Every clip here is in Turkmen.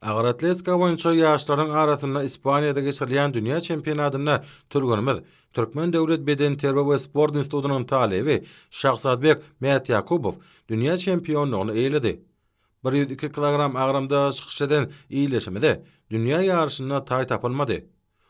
Agyr atletika boýunça ýaşlaryň arasynda Ispaniýada geçirilýän dünýä çempionatynda türgenimiz, Türkmen döwlet bedenterbiýe we sport institutynyň talyby Şahzadbek Mätýakubow dünýä çempionlygyny eýeledi. Bir ýüz iki kilogram agramda çykyş eden ildeşimize dünýä ýaryşynda taý tapylmady.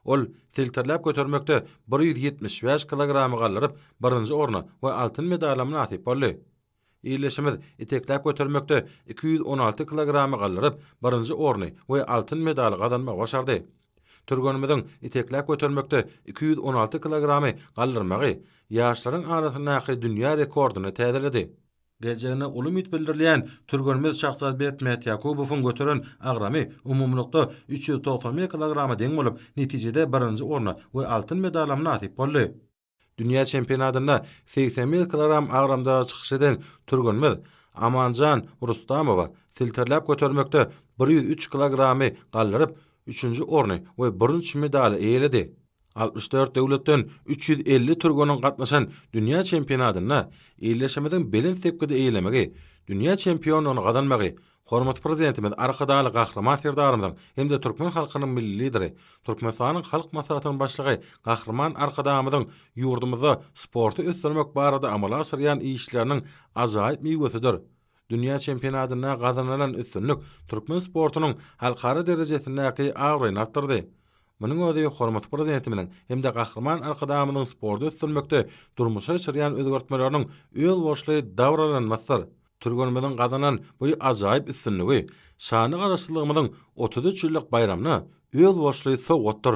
Ol silterläp götermekde bir ýüz ýetmiş bäş kilogramy galdyryp, birinji orna we altyn medala mynasyp boldy. Ildeşimiz itekläp götermekde iki ýüz on alty kilogramy galdyryp, birinji orny we altyn medaly gazanmagy başardy. Türgenimiziň itekläp götermekde iki ýüz on alty kilogramy galdyrmagy ýaşlaryň arasyndaky dünýä rekordyny täzeledi. Geljegine uly umyt bildirilýän türgenimiz Şahsazbek Mätýakubowyň göteren agramy umumylykda üç ýüz togsan bir kilograma deň bolup, netijede birinji orna we altyn medala mynasyp boldy. Dünýä çempionatynda segsen bir kilogram agramda çykyş eden türgenimiz Amanjan Rustamowa silterläp götermekde bir ýüz üç kilogramy galdyryp, üçünji orny we bürünç medaly eýeledi. Altmyş dört döwletden üç ýüz elli türgeniň gatnaşan dünýä çempionatynda ildeşimiziň belent sepgidi eýelemegi, dünýä çempionlygyny gazanmagy Hormatly Prezidentimiz Arkadagly Gahryman Serdarymyzyň hem-de türkmen halkynyň Milli Lideri, Türkmenistanyň Halk Maslahatynyň Başlygy Gahryman Arkadagymyzyň ýurdumyzda sporty ösdürmek barada amala aşyrýan işleriniň ajaýyp miwesidir. Dünýä çempionatynda gazanylan üstünlik türkmen sportunyň halkara derejesindäki abraýyny artdyrdy. Munuň özi hormatly Prezidentimiziň hem-de Gahryman Arkadagymyzyň sporty ösdürmekde durmuşa geçirýän özgertmeleriniň özboluşly dabaralanmasydyr. Türgenimiziň gazanan bu ajaýyp üstünligi şanly Garaşsyzlygymyzyň otuz üç ýyllyk baýramyna özboluşly sowgatdyr.